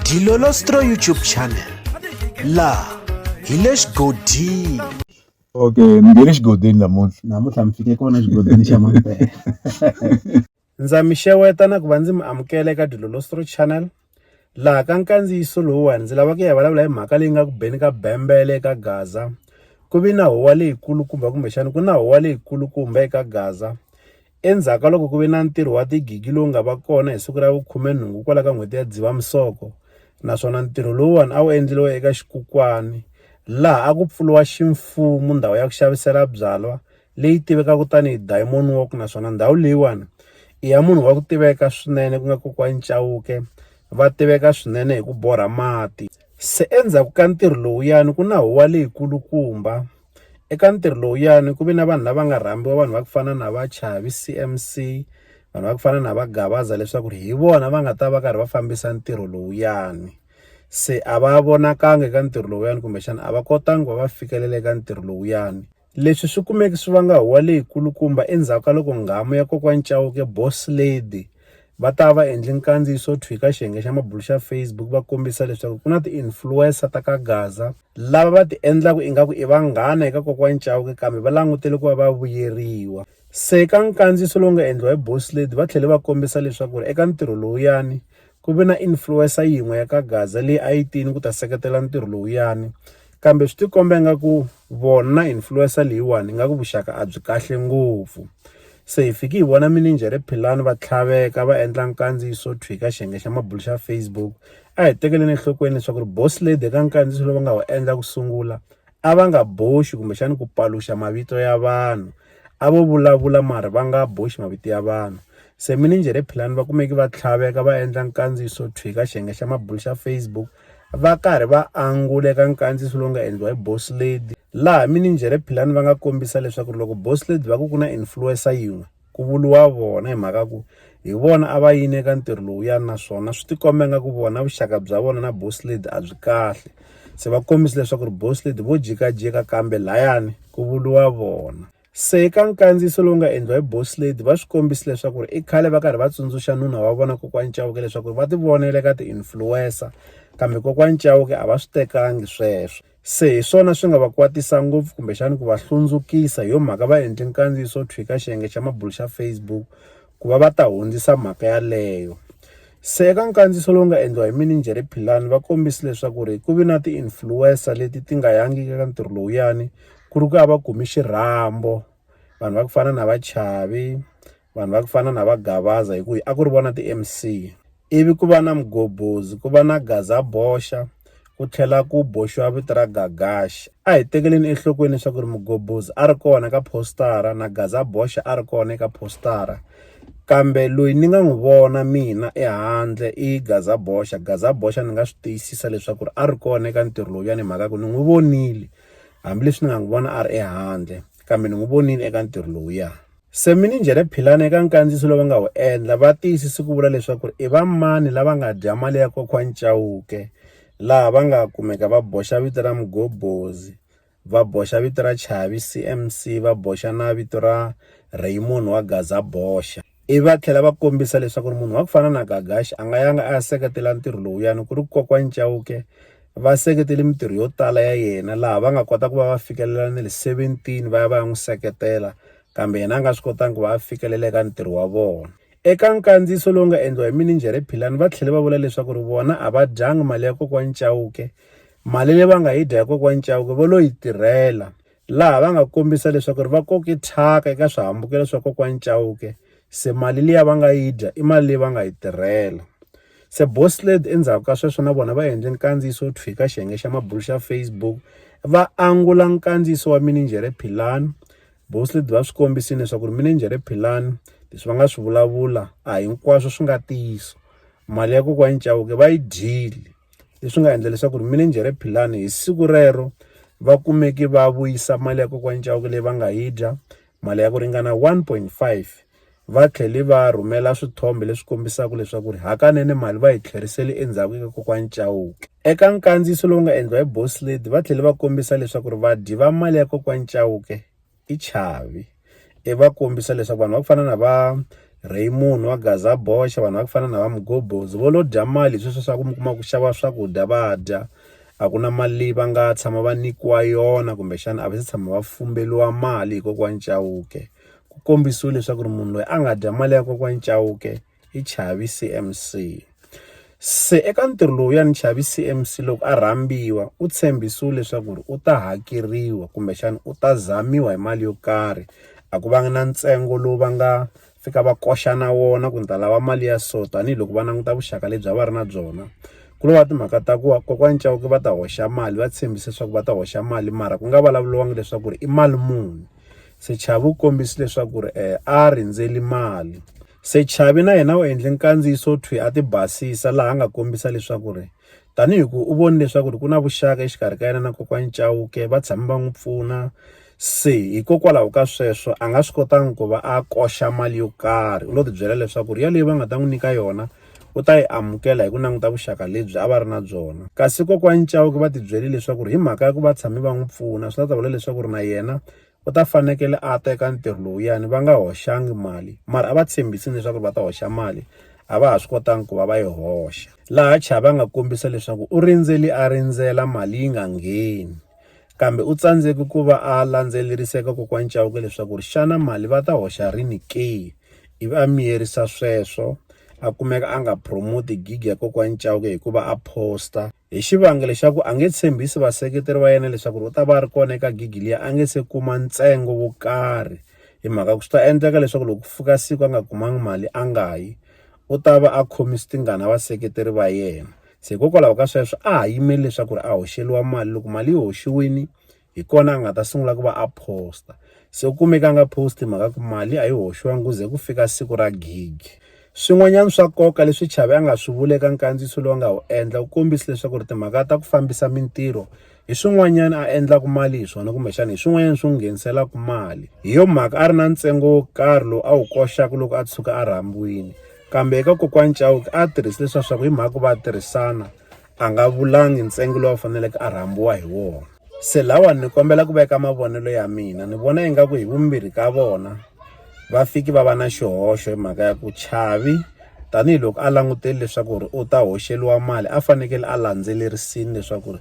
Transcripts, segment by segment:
Dilolostro YouTube channel laha hi le xigodini okay ni nge le xigodini namuntlha namuntlha mi fike kona xigodini xa mampela ndza mi xeweta na ku va ndzi mi amukela eka dilolostro channel laha ka nkandziyiso lowuwani ndzi lava ku ya vulavula hi mhaka leyi nga ku beni ka bembele eka gaza ku vi na huwa leyikulukumba kumbexana ku na huwa leyikulukumba eka gaza Endzhaku ka loko ku ve na ntirho wa tigigi lowu nga va kona hi siku ra vu khume-nhungu kwala ka n'hweti ya Dzivamisoko, naswona ntirho lowuwani a wu endleriwe eka xikukwani laha a ku pfuriwa ximfumu ndhawu ya ku xavisela byalwa leyi tivekaku tani hi Diamond Walk naswona ndhawu leyiwani i ya munhu wa ku tiveka swinene ku nga kokwani Chauke va tiveka swinene hi ku borha mati. Se endzhaku ka ntirho lowuyani ku na huwa leyi kulukumba. Eka ntirho lowuyani ku ve na vanhu lava nga rhambiwa vanhu va ku fana na va Chavi C_M_C vanhu va ku fana na va Gavaza leswaku ri hi vona va nga ta va karhi va fambisa ntirho lowuyani se a va vonakanga eka ntirho lowuyani kumbexana a va kotanga ku va va fikelela eka ntirho lowuyani leswi swi kumeke swi vanga huwa leyi kulukumba endzhaku ka loko nghamu ya kokwani Chauke boss lady. Va ta va endli nkandziyiso thwi ka xiyenge xa mabulu xa Facebook va kombisa leswaku ku na ti-influencer ta ka Gaza lava va ti endlaka ingaku i vanghana eka kokwani Chauke kambe va langutele ku va va vuyeriwa. Se ka nkandziyiso lowu nga endliwa hi Boss Lady va tlhele va kombisa leswaku ri eka ntirho lowuyani ku ve na influencer yin'we ya ka Gaza leyi a yi tini ku ta seketela ntirho lowuyani. Kambe swi tikombe nga ku vona influencer leyiwani nga ku vuxaka a byi kahle ngopfu. Se hi fiki hi vona mininjhere Philani va tlhaveka va endla nkandziyiso thwi ka xiyenge xa mabulo xa Facebook. A hi tekeleni enhlokweni leswaku ri boss lady eka nkandziyiso lowu va nga wu endla ku sungula a va nga boxi kumbexana ku paluxa mavito ya vanhu, a vo vulavula mara va nga boxi mavito ya vanhu. Se mininjhere Philani va kumeke va tlhaveka va endla nkandziyiso thwi ka xiyenge xa mabulo xa Facebook. Va karhi va angula eka nkandziyiso lowu nga endliwa hi Boss Lady, laha mininjhere Philani va nga kombisa leswaku loko Boss Lady va ku ku na influencer yin'we, ku vuriwa vona hi mhaka ku hi vona a va yini eka ntirho lowuyani naswona swi tikomba ingaku vona vuxaka bya vona na Boss Lady a byi kahle. Se va kombise leswaku Boss Lady vo jikajika kambe lahayani ku vuriwa vona. Se eka nkandziyiso lowu nga endliwa hi Boss Lady va swi kombisa leswaku ri i khale va karhi va tsundzuxa nuna wa vona kokwani Chauke leswaku va ti vonela ka ti-influencer kambe kokwani Chauke a va swi tekangi sweswo se hi swona swi nga va kwatisa ngopfu kumbexani ku va hlundzukisa hi yo mhaka va endle nkandziyiso wo thwika xiyenge xa mabulo xa Facebook. ku va va ta hundzisa mhaka yaleyo. Se eka nkandziyiso lowu nga endliwa hi mininjhere Philani va kombise leswaku ri ku vi na ti-influencer leti ti nga yangiki eka ntirho lowuyani ku ri ku ya va kumi xirhambo vanhu va ku fana na va Chavi vanhu va ku fana na va Gavaza hi ku a ku ri vona ti-M_C ivi ku va na mugobhozi, ku va na gazaboxa, ku tlhela ku boxiwa vito ra Gagaxi. A hi tekeleni enhlokweni leswaku ri mugobhozi a ri kona ka phositara na gazaboxa a ri kona eka phositara, kambe loyi ni nga n'wi vona mina ehandle i gazaboxa. Gazaboxa ni nga swi tiyisisa leswaku a ri kona eka ntirho lowuyani hi mhaka ku ni n'wi vonile, hambileswi ni nga n'wi vona a ri ehandle kambe ni n'wi vonile eka ntirho lowuya. Semininjhere Philani eka nkandziyiso lowu va nga wu endla va tiyisise ku vula leswaku i va mani lava nga dya mali ya kokwa Chauke laha va nga kumeka va boxa vito ra Mgobhozi, va boxa vito ra Chavi CMC, va boxa na vito ra Raymond wa Gaza boxa. Ivi va tlhela va kombisa leswaku munhu wa ku fana na Gagashi a nga yanga a ya seketela ntirho lowuyani ku ri kokwa Chauke, va seketele mintirho yo tala ya yena laha va nga kota ku va va fikelela na le seventeen va ya va ya n'wi seketela kambe yena a nga swi kotanga ku va a fikelela eka ntirho wa vona eka nkandziyiso lowu nga endliwa hi mininjhere philani va tlhele va vula leswaku ri vona a va dyangi mali ya kokwani chauke mali leyi va nga yi dya ya kokwani chauke va lo yi tirhela laha va nga kombisa leswaku ri va koke thyaka eka swihambukelo swa kokwani Chauke se mali liya va nga yi dya i mali leyi va nga yi tirhela se Bosled endzhaku ka sweswo na vona va endle nkandziyiso wo thwika xiyenge xa mabulu xa Facebook va angula nkandziyiso wa mininjhere Philani Bosled va swi kombisile leswaku ri mininjhere Philani leswi va nga swi vulavula a hinkwaswo swi nga ntiyiso mali ya kokwani Chauke va yi dyile leswi nga endla leswaku ri mininjhere philani hi siku rero va kumeke va vuyisa mali ya kokwani Chauke leyi va nga yi dya mali ya ku ringana one point five va tlhele va rhumela swithombe leswi kombisaka leswaku ri hakanene mali va yi tlherisele endzhaku eka kokwani Chauke eka nkandziyiso lowu nga endliwa hi boss lady va tlhele va kombisa leswaku ri vadyi va mali ya kokwani Chauke i Chavi i va kombisa leswaku vanhu va ku fana na va Raymond wa Gaza boxa vanhu va ku fana na va Mgobozi vo lo dya mali hi sweswo swa ku mi kuma ku xava swakudya va dya a ku na mali leyi va nga tshama va nyikiwa yona kumbexana a va se tshama va fumberiwa mali hi kokwani Chauke ku kombisiwe leswaku ri munhu loyi a nga dya mali ya kokwani Chauke. hi Chavi CMC. Se eka ntirho lowuyani Chavi CMC loko a rhambiwa u tshembisiwe leswaku ri u ta hakeriwa kumbexana u ta zamiwa hi mali yo karhi a ku vanga na ntsengo lowu va nga fika va koxa na wona ku ni ta lava mali ya so tanihiloko va languta vuxaka lebyi a va ri na byona ku lo va timhaka ta ku va kokwani Chauke va ta hoxa mali va tshembise leswaku va ta hoxa mali mara ku nga vulavuriwanga leswaku ri i mali muni se Chavi u kombise leswaku ri a rindzeli mali. Sechavi na yena u endle nkandziyiso thwi a tibasisa laha a nga kombisa leswaku ri tanihi ku u voni leswaku ri ku na vuxaka exikarhi ka yena na kokwani Chauke va tshame va n'wi pfuna se hikokwalaho ka sweswo a nga swi kotanga ku va a koxa mali yo karhi u lo tibyela leswaku ri yaleyo va nga ta n'wi nyika yona u ta yi amukela hi ku languta vuxaka lebyi a va ri na byona kasi kokwani Chauke va tibyele leswaku ri hi mhaka ya ku va tshame va n'wi pfuna swi ta ta vula leswaku ri na yena u ta fanekele a ta eka ntirho lowuyani va nga hoxanga mali mara a va tshembisi leswaku va ta hoxa mali a va ha swi kotanga ku va va yi hoxa laha chava nga kombisa leswaku u rindzeli a rindzela mali yi nga ngheni kambe u tsandzeke ku va a landzeleriseka kokwani Chauke leswaku ri xana mali va ta hoxa rini ke ivi a miyerisa sweswo a kumeka a nga promote gig ya kokwani Chauke hikuva a poster Hi xivangelo xa ku a nge tshembisi vaseketeri va yena leswaku u ta va a ri kona eka gigi liya a nge se kuma ntsengo wo karhi hi mhaka ku swi ta endleka leswaku loko ku fika siku a nga kumangi mali a nga yi u ta va a khomi switingana vaseketeri va yena se hikokwalaho ka sweswo a ha yimeli leswaku ri a hoxeliwa mali loko mali yi hoxiwini. hi kona a nga ta sungula ku va a post-a se u kumeke a nga post-i mhaka ku mali a yi hoxiwangi ku ze ku fika siku ra gig swin'wanyana swa nkoka leswi Chavi a nga swi vula eka nkandziyiso lowu nga wu endla wu kombise leswaku ri timhaka ta ku fambisa mintirho hi swin'wanyana a endlaka mali hi swona kumbexana hi swin'wanyana swi n'wi ngheniselaka mali hi yo mhaka a ri na ntsengo wo karhi lowu a wu koxaka loko a tshuka a rhambiwile kambe eka kokwani Chauke a tirhise leswiya swa ku hi mhaka ku va tirhisana a nga vulangi ntsengo lowu a faneleke a rhambiwa hi wona se lawani ni kombela ku veka mavonelo ya mina ni vona ingaku hi vumbirhi ka vona va fiki va va na xihoxo hi mhaka ya ku chavi tanihiloko a languteli leswaku ri u ta hoxeliwa mali a fanekele a landzelerisini leswaku ri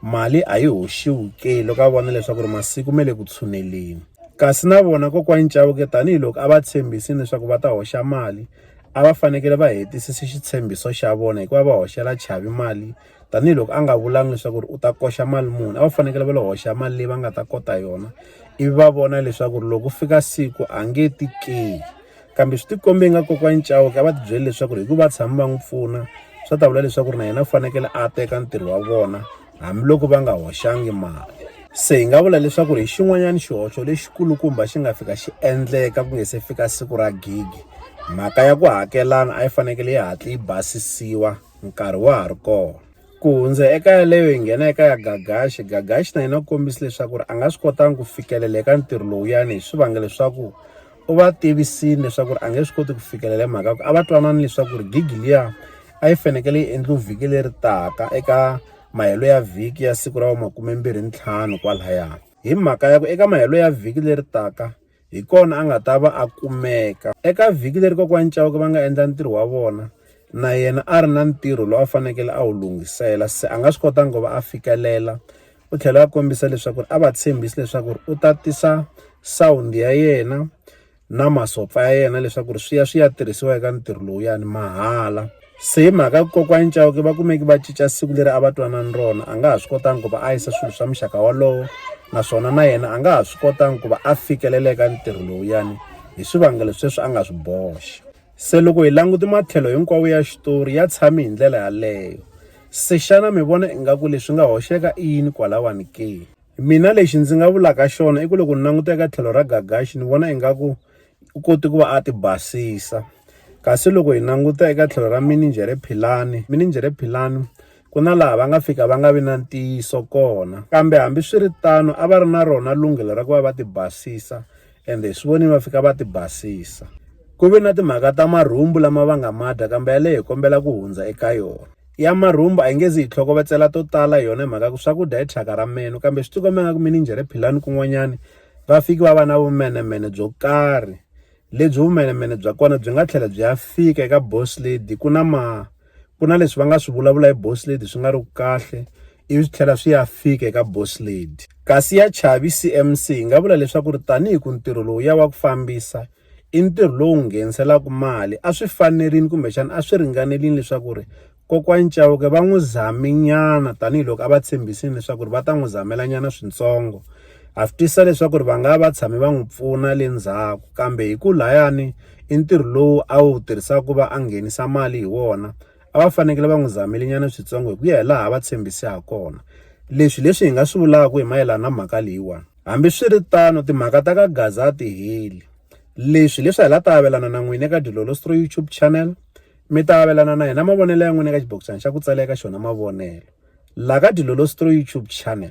mali a yi hoxiwi ke loko a vona leswaku ri masiku ma le ku tshuneleni kasi na vona kokwani Chauke tanihiloko a va tshembisini leswaku va ta hoxa mali a va fanekele va hetisisa xitshembiso xa vona hikuva va hoxela Chavi mali tanihiloko a nga vulanga leswaku ri u ta koxa mali muni a va fanekele va lo hoxa mali leyi va nga ta kota yona ivi va vona leswaku ri loko fika siku a nge ti ke kambe swi tikombe nga kokwani Chauke a va ti byele leswaku ri hikuva va tshama va n'wi pfuna swa ta vula leswaku ri na yena u fanekele a teka ntirho wa vona. hambiloko va nga hoxangi mali. Se hi nga vula leswaku hi xin'wanyana xihoxo lexikulukumba xi nga fika xi endleka ku nga se fika siku ra gigi mhaka ya ku hakelana a yi fanekele yi hatla yi basisiwa nkarhi wa ha ri kona ku hundza eka yaleyo hi nghena eka ya gagaxi gagaxi na yena u kombisa leswaku ri a nga swi kotanga ku fikelela eka ntirho lowuyani hi swivangelo swa ku u va tivisile leswaku a nge swi koti ku fikelela hi mhaka ku a va twanana leswaku ri gigi liya a yi fanekele yi endliwe vhiki leri taka eka mahelo ya vhiki ya siku ra va makumembirhi ntlhanu kwalaya hi mhaka ya ku eka mahelo ya vhiki leri taka hi kona a nga ta va a kumeka eka vhiki leri kokwani cawuke va nga endla ntirho wa vona na yena a ri na ntirho lowu a fanekele a wu lunghisela se a nga swi kotanga ku va a fikelela u tlhela a kombisa leswaku a va tshembisi leswaku u ta tisa sound ya yena na masopfa ya yena leswaku ri swi ya swi ya tirhisiwa eka ntirho lowuyani mahala se hi mhaka kokwani Chauke va kumeki va cinca siku leri a va twanani rona a nga ha swi kotanga ku va a yisa swilo swa muxaka wolowo naswona na yena a nga ha swi kotanga ku va a fikeleleka ntirho lowuyani hi swivangelo sweswi a nga swi boxa Se loko hi languti matlhelo hinkwawo ya xitori ya tshami hi ndlela yaleyo, se xana mi vona ingaku leswi nga hoxeka i yini kwalawani ke? Mina lexi ndzi nga vulaka xona i ku loko ni languta eka tlhelo ra Gagaxi ni vona ingaku u kote ku va a ti basisa. Kasi loko hi languta eka tlhelo ra Mininjhere Philani, Mininjhere Philani ku na laha va nga fika va nga vi na ntiyiso kona. Kambe hambiswiritano a va ri na rona lunghelo ra ku va va ti basisa ende hi swi vonile va fika va ti basisa. Ku ve na timhaka ta marhumbu lama va nga ma dya kambe yaleyo hi kombela ku hundza eka yona. Ya marhumbu a yi nge zi yi tlhokovetsela to tala hi yona hi mhaka ku swakudya i thyaka ra menu kambe swi tikombe ingaku mininjhere Philani kun'wanyani va fike va va na vumenemene byo karhi lebyi vumenemene bya kona byi nga tlhela byi ya fika eka Boss Lady ku na ma ku na leswi va nga swi vulavula hi boss lady swi nga ri ku kahle ivi swi tlhela swi ya fika eka boss lady kasi ya chavi cmc hi nga vula leswaku ri tanihi ku ntirho lowu ya wa ku fambisa i ntirho lowu ngheniselaka mali a swi fanerile kumbexana a swi ringanerile leswaku ri kokwani Chauke va n'wi zaminyana tanihiloko a va tshembisile leswaku ri va ta n'wi zamela nyana swintsongo Ha swi twisisa leswaku ri va nga va va tshame va n'wi pfuna le ndzhaku kambe hi ku layani i ntirho lowu a wu tirhisaka ku va a nghenisa mali hi wona a va fanekele va n'wi zamele nyana switsongo hi ku ya hi laha va tshembise ha kona leswi hi leswi hi nga swi vulaka hi mayelana na mhaka leyiwani hambiswiritano timhaka ta ka gaza a ti heli leswi leswi hi la ta avelana na n'wina eka dilolostro YouTube channel mi ta avelana na hina mavonelo ya n'wina eka xibokisana xa ku tsala eka xona mavonelo la ka dilolostro YouTube channel.